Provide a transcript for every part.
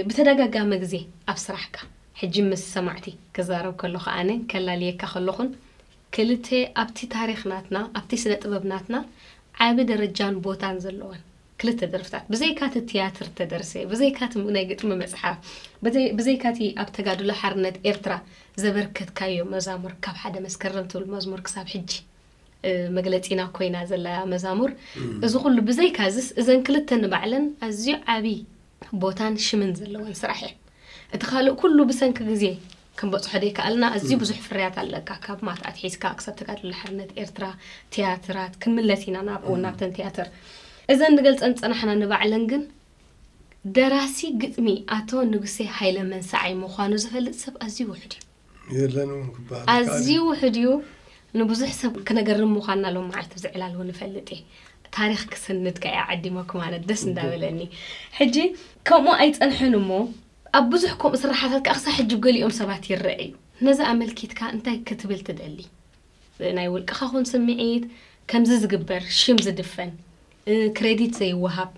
ብተደጋጋሚ ግዜ ኣብ ስራሕካ ሕጂ ምስ ሰማዕቲ ክዛረብ ከለኹ ኣነ ከላልየካ ከለኹን ክልተ ኣብቲ ታሪኽ ናትና ኣብቲ ስነ ጥበብ ናትና ዓቢ ደረጃን ቦታን ዘለወን ክልተ ደርፍታት ብዘይካ እቲ ትያትር ተደርሰ ብዘይካ እቲ ናይ ግጥሚ መጽሓፍ ብዘይካ እቲ ኣብ ተጋድሎ ሓርነት ኤርትራ ዘበርከትካዮ መዛሙር ካብ ሓደ መስከረም ትብል መዝሙር ክሳብ ሕጂ መግለጺና ኮይና ዘላ መዛሙር። እዚ ኩሉ ብዘይካዝስ እዘን ክልተ ንባዕለን ኣዝዩ ዓቢ ቦታን ሽምን ዘለወን ስራሕ እየን። እቲ ካልእ ኩሉ ብሰንኪ ግዜ ክንበጽሖ ዘይከኣልና ኣዝዩ ብዙሕ ፍርያት ኣለካ ካብ ማት ኣትሒዝካ ክሳብ ተጋድሎ ሓርነት ኤርትራ ትያትራት ክንምለስ ኢና ናብ እውን ናብተን ትያትር እዘን ንገልጸን ዝጸናሕና ንባዕለን ግን ደራሲ ግጥሚ ኣቶ ንጉሴ ሃይለ መንሰዓይ ምዃኑ ዝፈልጥ ሰብ ኣዝዩ ውሑድ እዩ። የለን እውን ክበሃል ኣዝዩ ውሑድ እዩ። ንብዙሕ ሰብ ክነገርም ምዃንና ሎም መዓልቲ ብዚ ዕላል እውን እፈልጥ እየ። ታሪኽ ክስንድ ከእ እየ ዓዲመ ክም ኣነ ደስ እንዳበለኒ። ሕጂ ከምኡ ኣይጸንሐን እሞ ኣብ ብዙሕ ከምኡ ስርሓታት ከኣ ክሳብ ሕጂ ብ ገሊኦም ሰባት ይረእ እዩ። ነዚ ኣመልኪትካ እንታይ ክትብል ትደሊ? ናይ ውልቅኻ ኹን ስምዒት ከምዚ ዝግበር ሽም ዝድፈን ክሬዲት ዘይወሃብ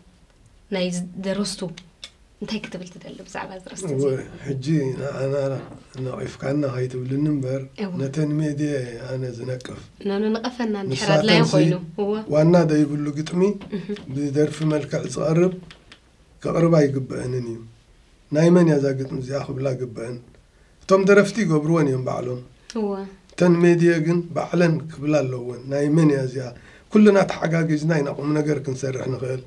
ናይ ደረስቱ እንታይ ክትብል ትደሊ ብዛዕባ ዝረስቲ እዚ ሕጂ ንኣናራ ነቒፍካና ከይትብልኒ እምበር ነተን ሜድየ ኣነ ዝነቅፍ ናኑ ንቐፈና ንድሕር ኣድላዩ ኮይኑ ዋና ዘይብሉ ግጥሚ ብደርፊ መልክዕ ዝቐርብ ከቕርባ ኣይግበእንን እዩ ናይ መን እያ እዛ ግጥሚ እዚኣ ክብላ ግበእን እቶም ደረፍቲ ይገብርወን እዮም ባዕሎም እወ እተን ሜድየ ግን ባዕለን ክብላ ኣለወን ናይ መን እያ እዚኣ ኩልና ተሓጋጊዝና ኢና ቁም ነገር ክንሰርሕ ንኽእል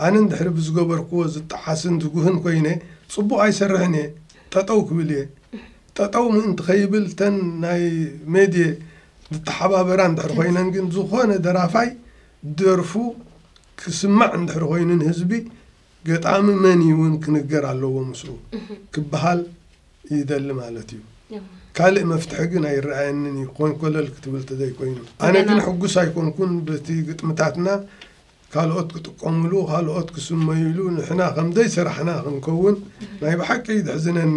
ኣነ እንድሕሪ ብዝገበርክዎ ዝጠሓስን ዝጉህን ኮይነ ፅቡቕ ኣይሰርሕን እየ ጠጠው ክብል እየ ጠጠው ምእንቲ ከይብል እተን ናይ ሜድየ ዝተሓባበራ እንድሕር ኮይነን ግን ዝኾነ ደራፋይ ደርፉ ክስማዕ እንድሕር ኮይኑ ንህዝቢ ገጣሚ መን እዩ እውን ክንገር ኣለዎ ምስኡ ክበሃል ይደሊ ማለት እዩ። ካልእ መፍትሒ ግን ኣይረኣየንን እዩ ኮንኮለል ክትብል ተዘይኮይኑ። ኣነ ግን ሕጉስ ኣይኮንኩን በቲ ግጥምታትና ካልኦት ክጥቀሙሉ ካልኦት ክስመዩሉ ንሕና ከምዘይሰራሕና ክንከውን ናይ ብሓቂ እዩ ዘሕዝነኒ።